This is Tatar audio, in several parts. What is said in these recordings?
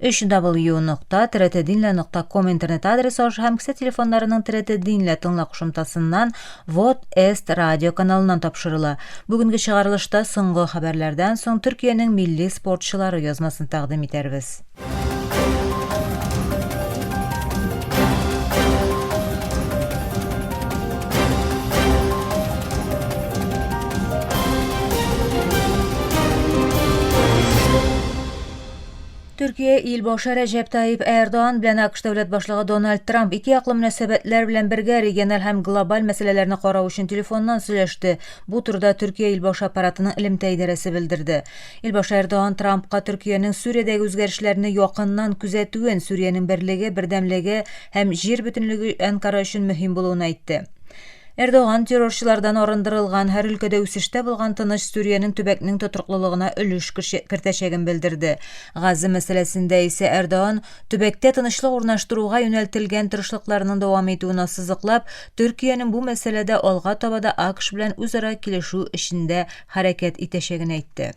www.tretedinle.com интернет адресы аша һәм кесә телефоннарының Третединле тыңла кушымтасыннан Вот Эст радио каналыннан тапшырыла. Бүгенге чыгарылышта соңгы хәбәрләрдән соң Төркиянең милли спортчылары язмасын тәкъдим итәрбез. Төркия ил башы Рәҗәп Таип Эрдоган белән АКШ дәүләт башлыгы Дональд Трамп ике яклы мөнәсәбәтләр белән бергә региональ һәм глобаль мәсьәләләрне карау өчен телефоннан сөйләште. Бу турыда Төркия ил башы аппаратының элемтә идарәсе белдерде. Ил башы Эрдоган Трампка Төркиянең Сүриядәге үзгәрешләрне якыннан күзәтүен, Сүриянең берлеге, бердәмлеге һәм җир бөтенлеге Әнкара өчен мөһим булуын әйтте. Эрдоган террорчылардан арындырылган, һәр өлкәдә үсештә булган тыныч Сүриянең төбәкнең тотрыклылыгына өлеш кертәчәген белдерде. Газа мәсьәләсендә исә Эрдоган, төбәктә тынычлык урнаштыруга юнәлтелгән тырышлыкларның дәвам итүен ассызыклап, Төркиянең бу мәсьәләдә алга таба да АКШ белән үзара килешү эчендә хәрәкәт итәчәген әйтте.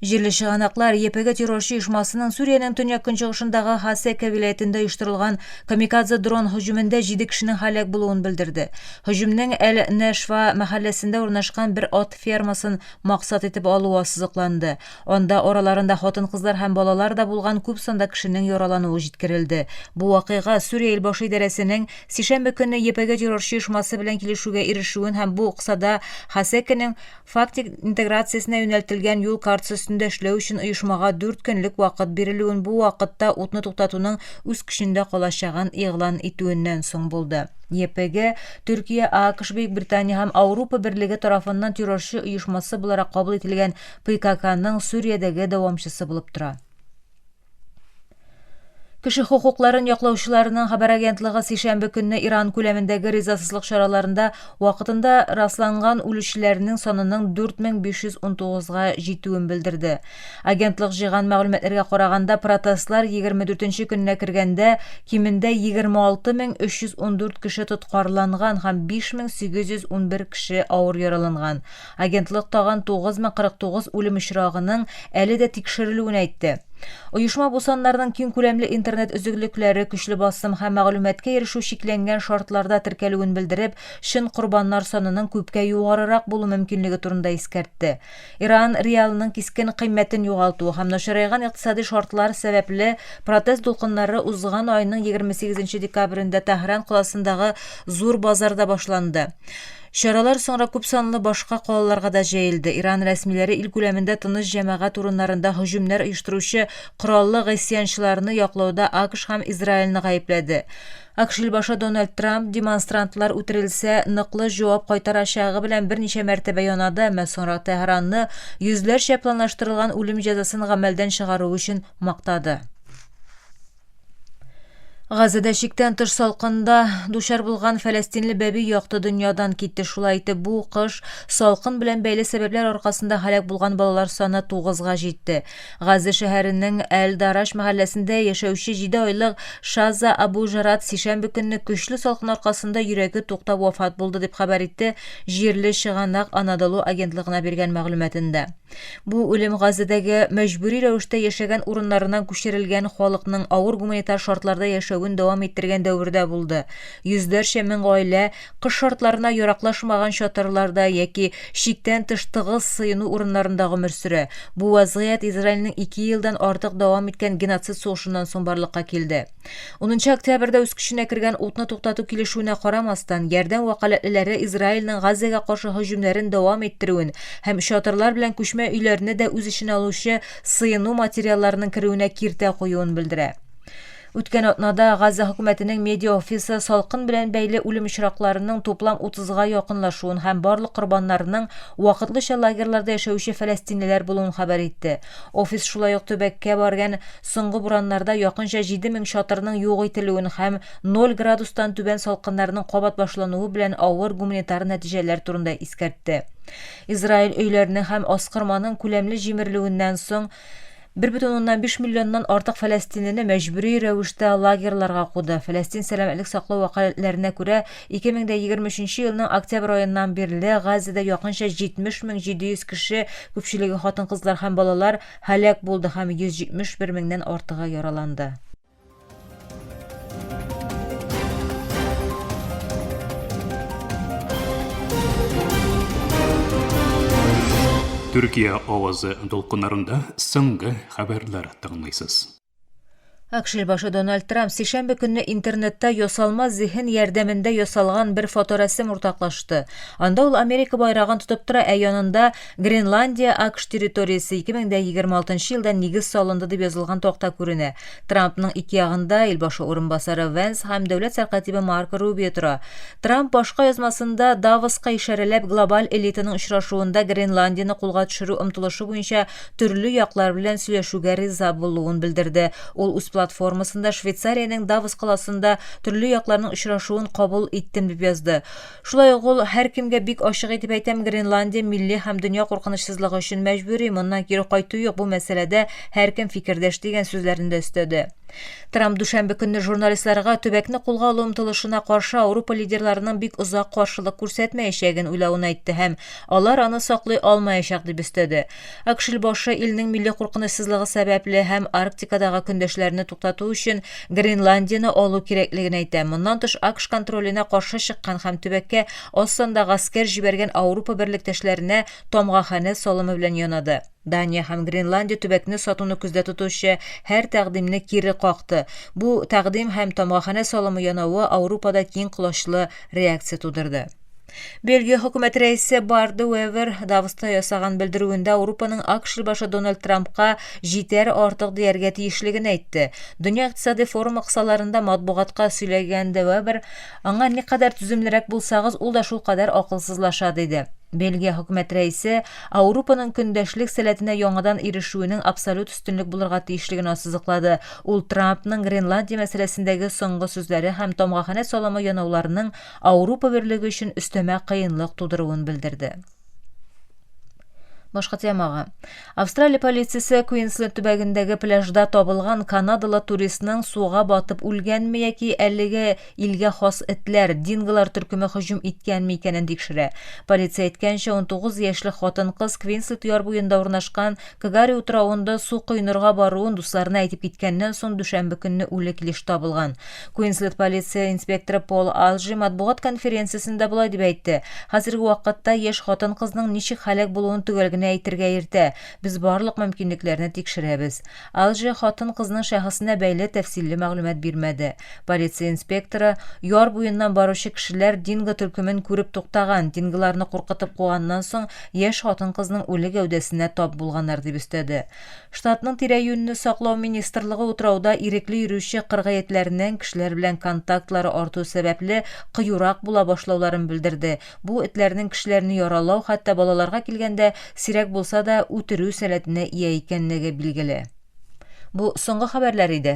Җирле чыганаклар ЕПГ террорчы оешмасының Сүриянең төньяк-көнчыгышындагы Хасека вилаятендә оештырылган камикадзе дрон һөҗүмендә 7 кешенең һәлак булуын белдерде. Һөҗүмнең Әл-Нәшва мәхәлләсендә урнашкан бер ат фермасын максат итеп алуы ассызыкланды. Анда араларында хатын-кызлар һәм балалар да булган күп санда кешенең яралануы җиткерелде. Бу вакыйга Сүрия илбашы идарәсенең сишәмбе көнне ЕПГ террорчы оешмасы белән килешүгә ирешүен һәм бу кысада Хасекенең фактик интеграциясенә юнәлтелгән юл картасы өстендә эшләү өчен оешмага дүрт көнлек вакыт бирелүен бу вакытта утны туктатуның үз көчендә калачагын игълан итүеннән соң булды. ЕПГ, Төркия, ААКШ-Бөекбритания һәм Аурупа берлеге тарафыннан террорчы оешмасы буларак кабул ителгән ПККның Сүриядәге дәвамчысы булып тора. Кеше хокукларын яклаучыларның хәбәр агентлыгы сишәмбе көнне Иран күләмендәге ризасызлык чараларында вакытында расланган үлүчеләрнең санының 4519-га җитүен белдерде. Агентлык җыйган мәгълүматларга караганда, протестлар 24 көненә кергәндә кимендә 26314 кеше тоткарланган һәм 5811 кеше авыр яраланган. Агентлык тагын 9049 үлем очрагының әле дә тикшерелүен әйтте. Оешма бу саннарның киң күләмле интернет өзеклекләре, көчле басым һәм мәгълүматка ирешү чикләнгән шартларда теркәлүен белдереп, чын корбаннар санының күпкә югарырак булу мөмкинлеге турында искәртте. Иран реалының кискен кыйммәтен югалтуы һәм начарайган икътисади шартлар сәбәпле протест дулкыннары узган айның 28 нче декабрендә Тәһран каласындагы зур базарда башланды. Чаралар соңра күпсанлы башка калаларга да җәелде. Иран рәсмиләре ил күләмендә тыныч җәмәгать урыннарында һөҗүмнәр оештыручы кораллы гыйсъянчыларны яклауда АКШ һәм Израильне гаепләде. АКШ илбашы Дональд Трамп демонстрантлар үтерелсә, ныклы җавап кайтарачагы белән берничә мәртәбә янады, әмма соңрак Тәһранны йөзләрчә планлаштырылган үлем җәзасын гамәлдән чыгаруы өчен мактады. Газәдә чиктән тыш салкында дучар булган фәләстинле бәби якты дөньядан китте. Шулай итеп, бу кыш салкын белән бәйле сәбәпләр аркасында һәлак булган балалар саны тугызга җитте. Газә шәһәренең Әл-Дараш мәхәлләсендә яшәүче җиде айлык Шаза Абу Жарат сишәмбе көнне көчле салкын аркасында йөрәге туктап вафат булды, дип хәбәр итте җирле чыганак Анадолу агентлыгына биргән мәгълүматында. Бу үлем Газадәге мәҗбүри рәвештә яшәгән урыннарыннан күчерелгән халыкның авыр гуманитар шартларда яшәвен дәвам иттергән дәвердә булды. Йөзләрчә мең гаилә кыш шартларына яраклашмаган чатырларда яки чиктән тыш тыгыз сыену урыннарында гомер сөрә. Бу вазгыять Израильнең ике елдан артык дәвам иткән геноцид сугышыннан соң барлыкка килде. 10 октябрьдә үз көченә кергән утны туктату килешүенә карамастан, ярдәм вәкаләтлеләре Израильнең Газзәгә каршы һөҗүмнәрен дәвам иттерүен һәм чатырлар белән күчмә өйләрне дә үз эченә алучы сыену материалларының керүенә киртә куюын белдерә. Үткән атнада Газза хөкүмәтенең медиа офисы салкын белән бәйле үлем очракларының туплам 30-га якынлашуын һәм барлык корбаннарның вакытлыча лагерьларда яшәүче фәләстинлеләр булуын хәбәр итте. Офис шулай ук төбәккә барган соңгы бураннарда якынча 7 мең чатырның юк ителүен һәм 0 градустан түбән салкыннарның кабат башлануы белән авыр гуманитар нәтиҗәләр турында искәртте. Израиль өйләрнең һәм аскырманың күләмле җимерелүеннән соң 1,5 миллионнан артык фәләстинлене мәҗбүри рәвештә лагерьларга куды. Фәләстин сәламәтлек саклау вәкаләтләренә күрә, 2023 нче елның октябрь аеннан бирле Газида якынча 70 мең 700 кеше, күпчелеге хатын-кызлар һәм балалар, һәлак булды һәм 171 меңнән артыгы яраланды. Төркия авазы дулкыннарында соңгы хәбәрләр тыңлыйсыз. Акшел башы Дональд Трамп сишәмбе көнне интернетта ясалма зиһен ярдәмендә ясалган бер фоторәсем уртаклашты. Анда ул Америка байрагын тотып тора, ә янында Гренландия АКШ территориясе 2026 елда нигез салынды дип язылган такта күренә. Трампның ике ягында ил башы урынбасары Венс һәм дәүләт сәркатибе Марко Рубио тора. Трамп башка язмасында Давоска ишарәләп глобаль элитаның очрашуында Гренландияне кулга төшерү омтылышы буенча төрле яклар белән сөйләшүгә риза булуын белдерде. Ул үз платформасында Швейцариянең Давос каласында төрле якларның очрашуын кабул иттем дип язды. Шулай ук ул, Һәркемгә бик ачык итеп әйтәм, Гренландия милли һәм дөнья куркынычсызлыгы өчен мәҗбүри, моннан кире кайту юк, бу мәсьәләдә һәркем фикердәш, дигән сүзләрен дә өстәде. Трамп дүшәмбе көнне журналистларга төбәкне кулга алу омтылышына каршы Аурупа лидерларының бик озак каршылык күрсәтмәячәген уйлавын әйтте һәм, Алар аны саклый алмаячак, дип өстәде. Акшел башы илнең милли куркынычсызлыгы сәбәпле һәм Арктикадагы көндәшләрне туктату өчен Гренландияне алу кирәклеген әйтә. Моннан тыш АКШ контроленә каршы чыккан һәм төбәккә аз санда гаскәр җибәргән Аурупа берлектәшләренә тамгаханә салымы белән янады. Дания һәм Гренландия төбәкне сатуны күздә тотучы һәр тәкъдимне кире какты. Бу тәкъдим һәм тамгаханә салымы янавы Аурупада киң колачлы реакция тудырды. Бельгия хөкүмәт рәисе Барды Уэвер Давоста ясаган белдерүендә Аурупаның ак шилбашы Дональд Трампка җитәр артык дияргә тиешлеген әйтте. Дөнья икътисади форумы кысаларында матбугатка сөйләгәндә Уэвер, аңа никадәр түземлерәк булсагыз, ул да шулкадәр акылсызлаша, диде. Бельгия хөкүмәт рәисе Ауропаның көндәшлек сәләтенә яңадан ирешүенең абсолют өстенлек булырга тиешлеген ассызыклады. Ул Трампның Гренландия мәсьәләсендәге соңгы сүзләре һәм тамгаханә саламы янауларының Аурупа берлеге өчен өстәмә кыенлык тудыруын белдерде. Башка темага. Австралия полициясе Куинсленд төбәгендәге пляжда табылган канадалы туристның суга батып үлгәнме яки әлеге илгә хас этләр, динголар төркеме һөҗүм иткәнме икәнен тикшерә. Полиция әйткәнчә, 19 яшьлек хатын-кыз Квинсленд яр буенда урнашкан Кгари утравында су коенырга баруын дусларына әйтеп киткәннән соң дүшәмбе көнне үле килеш табылган. Куинсленд полиция инспекторы Пол Алжи матбугат конференциясендә болай дип әйтте, Хәзерге вакытта яшь хатын-кызның ничек һәлак булуын төгәл генә әйтергә иртә, без барлык мөмкинлекләрне тикшерәбез. Алжи хатын-кызның шәхесенә бәйле тәфсилле мәгълүмат бирмәде. Полиция инспекторы, Яр буеннан баручы кешеләр динго төркемен күреп туктаган, динголарны куркытып куганнан соң, яшь хатын-кызның үле гәүдәсенә тап булганнар, дип өстәде. Штатның тирә-юньне саклау министрлыгы утрауда ирекле йөрүче кыргыетләрнең кешеләр белән контактлары арту сәбәпле кыюрак була башлауларын белдерде, бу этләрнең кешеләрне яралау, хәтта балаларга килгәндә, сирәк булса да, үтерү сәләтенә ия икәнлеге билгеле. Бу соңгы хәбәрләр иде.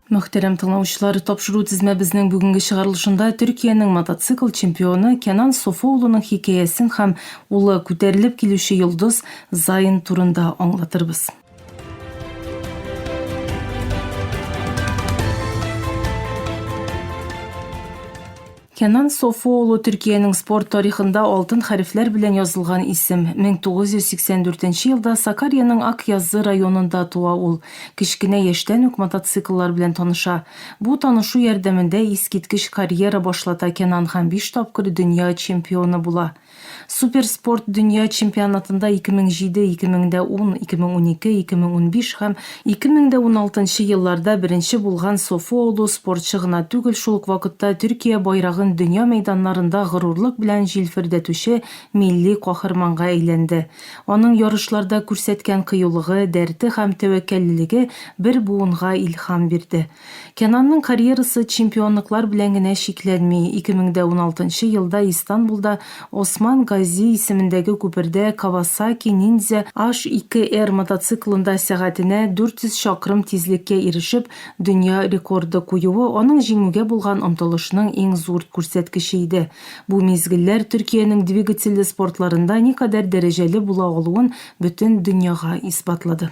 Мөхтәрәм тыңлаучылар, тапшыру тезмәбезнең бүгенге чыгарылышында Төркиянең мотоцикл чемпионы Кенан Софо улының хикәясен һәм улы, күтәрелеп килүче йолдыз Зайн турында аңлатырбыз. Кенан Софуоглу Төркиянең спорт тарихында алтын хәрефләр белән язылган исем. 1984 елда Сакарьяның Акъяззы районында туа ул. Кечкенә яшьтән үк мотоцикллар белән таныша. Бу танышу ярдәмендә искиткеч карьера башлата Кенан һәм биш тапкыр дөнья чемпионы була. Суперспорт дөнья чемпионатында 2007, 2010, 2012, 2015 һәм 2016 елларда беренче булган софоолы спортчы гына түгел, шул ук вакытта Төркия байрагын дөнья мәйданнарында горурлык белән җилфердәтүче милли каһарманга әйләнде. Аның ярышларда күрсәткән кыюлыгы, дәрте һәм тәвәккәллелеге бер буынга илһам бирде. Кенанның карьерасы чемпионлыклар белән генә чикләнми. Ике мең дә уналтынчы елда Истанбулда Осман Гази исемендәге күпердә Кавасаки Ниндзя Аш ике эр мотоциклында сәгатенә 400 чакрым тизлеккә ирешеп, дөнья рекорды куюы аның җиңүгә булган омтылышның иң зур күрсәткече иде. Бу мизгелләр Төркиянең двигательле спортларында никадәр дәрәҗәле була алуын бөтен дөньяга исбатлады.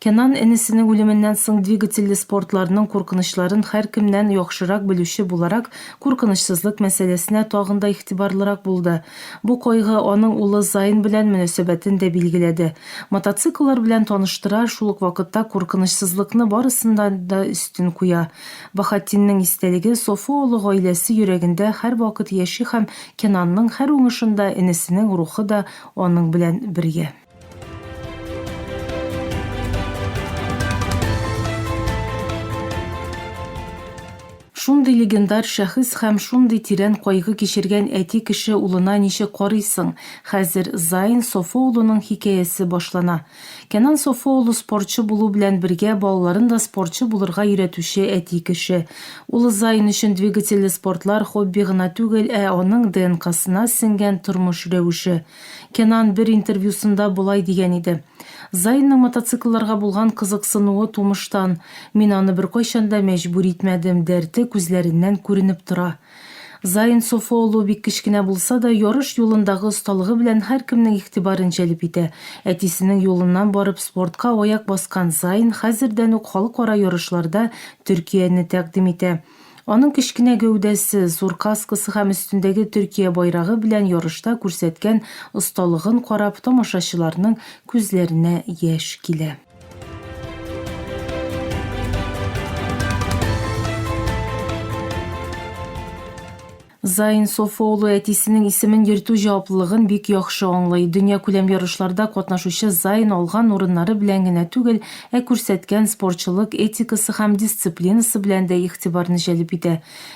Кенан энесенең үлеменнән соң двигательле спортларның куркынычларын һәркемнән яхшырак белүче буларак, куркынычсызлык мәсьәләсенә тагын да игътибарлырак булды. Бу кайгы аның улы Зайн белән мөнәсәбәтен дә билгеләде. Мотоцикллар белән таныштыра, шул ук вакытта куркынычсызлыкны барысыннан да өстен куя. Баһатдиннең истәлеге Софу олы гаиләсе йөрәгендә һәрвакыт яши һәм Кенанның һәр уңышында энесенең рухы да аның белән бергә. Шундый легендар шәхес һәм шундый тирән кайгы кичергән әти кеше улына ничек карыйсың? Хәзер Заин Софо улының хикәясе башлана. Кенан Софо улы спортчы булу белән бергә балаларын да спортчы булырга өйрәтүче әти кеше. Улы Заин өчен двигательле спортлар хобби гына түгел, ә аның ДНКсына сеңгән тормыш рәвеше. Кенан бер интервьюсында болай дигән иде, Зайнның мотоциклларга булган кызыксынуы тумыштан, мин аны беркайчан да мәҗбүр итмәдем, дәрте күзләреннән күренеп тора. Зайн Софоолу бик кечкенә булса да, ярыш юлындагы осталыгы белән һәркемнең игътибарын җәлеп итә. Әтисенең юлыннан барып спортка аяк баскан Зайн хәзердән үк халыкара ярышларда Төркияне тәкъдим итә. Аның кечкенә гәүдәсе, зур каскасы һәм өстендәге Төркия байрагы белән ярышта күрсәткән осталыгын карап, тамашачыларның күзләренә яшь килә. Заин Софо улы әтисенең исемен йөртү җаваплылыгын бик яхшы аңлый. Дөньякүләм ярышларда катнашучы Заин алган урыннары белән генә түгел, ә күрсәткән спортчылык этикасы һәм дисциплинасы белән дә игътибарны җәлеп итә.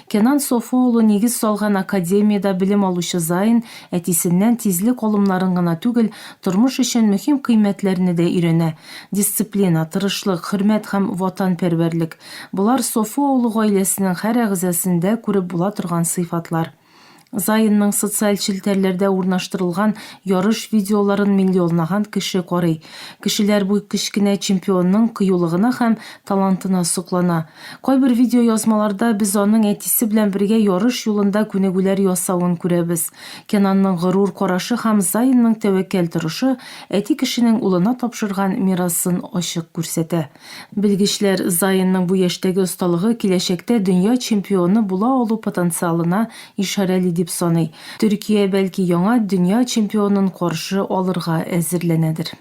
Кенан Софо улы нигез салган академиядә белем алучы Заин әтисеннән тизлек алымнарын гына түгел, тормыш өчен мөһим кыйммәтләрне дә өйрәнә, дисциплина, тырышлык, хөрмәт һәм ватанпәрвәрлек. Болар Софу авылы гаиләсенең һәр әгъзасендә күреп була торган сыйфатлар. Заинның социаль челтәрләрдә урнаштырылган ярыш видеоларын миллионлаган кеше карый. Кешеләр бу кечкенә чемпионның кыюлыгына һәм талантына соклана. Кайбер видеоязмаларда без аның әтисе белән бергә ярыш юлында күнегүләр ясавын күрәбез. Кенанның горур карашы һәм Заинның тәвәккәл торышы әти кешенең улына тапшырган мирасын ачык күрсәтә. Белгечләр Зайенның бу яшьтәге осталыгы киләчәктә дөнья чемпионы була алу потенциалына ишарәли дип саный. Төркия, бәлки, яңа дөнья чемпионын каршы алырга әзерләнәдер.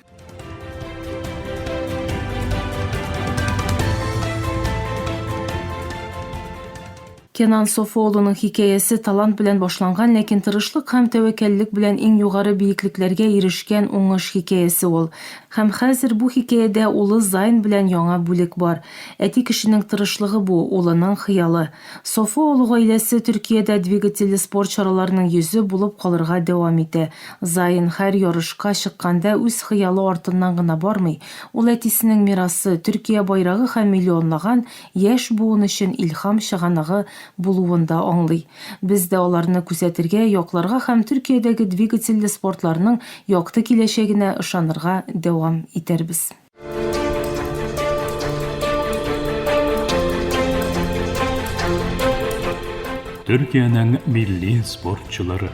Кенан Софо улының хикәясе талант белән башланган, ләкин тырышлык һәм тәвәккәллек белән иң югары биеклекләргә ирешкән уңыш хикәясе ул. Һәм хәзер бу хикәядә улы Зайн белән яңа бүлек бар. Әти кешенең тырышлыгы бу, улының хыялы. Софо улы гаиләсе Төркиядә двигательле спорт чараларының йөзе булып калырга дәвам итә. Зайн һәр ярышка чыкканда үз хыялы артыннан гына бармый, ул әтисенең мирасы, Төркия байрагы һәм миллионлаган яшь буын өчен илһам чыганагы булуын да аңлый. Без дә аларны күзәтергә, якларга һәм Төркиядәге двигательле спортларның якты киләчәгенә ышанырга дәвам итәрбез. Төркиянең милли спортчылары.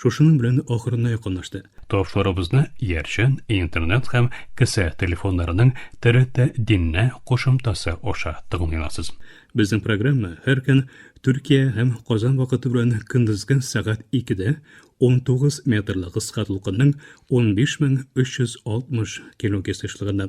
Шушының белән ахырына якынлашты. Тапшырубызны иярчен, интернет һәм кесә телефоннарының ТРТ Диннә кушымтасы аша тыңлый аласыз. Безнең программа һәр көн Төркия һәм Казан вакыты белән көндезге сәгать 2-дә 19 метрлы кыска дулкынның 15360 килогерц очлыгында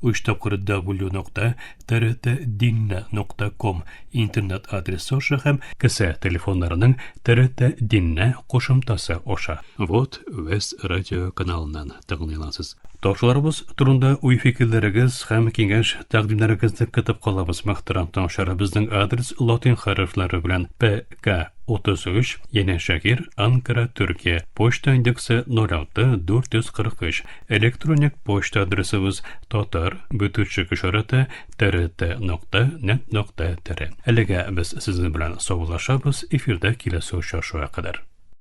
Уч тапкыры www.trtdinna.com интернет адресы аша һәм кесә телефоннарының TRT-Dinna кушымтасы аша. Вот вес радио каналыннан тыңлыйласыз. Ташларыбыз турында уй-фикерләрегез һәм киңәш тәкъдимнәрегезне көтеп калабыз, мөхтәрәм тыңлаучылар. Безнең адрес латин хәрефләре белән ПК 33, Янәшәгер, Анкара, Төркия. Почта индексы 06443. Электроник почта адресыбыз татар бөтүрчек ишараты трт нокта нет нокта тр. Әлегә без сезнең белән саубуллашабыз, эфирда киләсе очрашуга кадәр.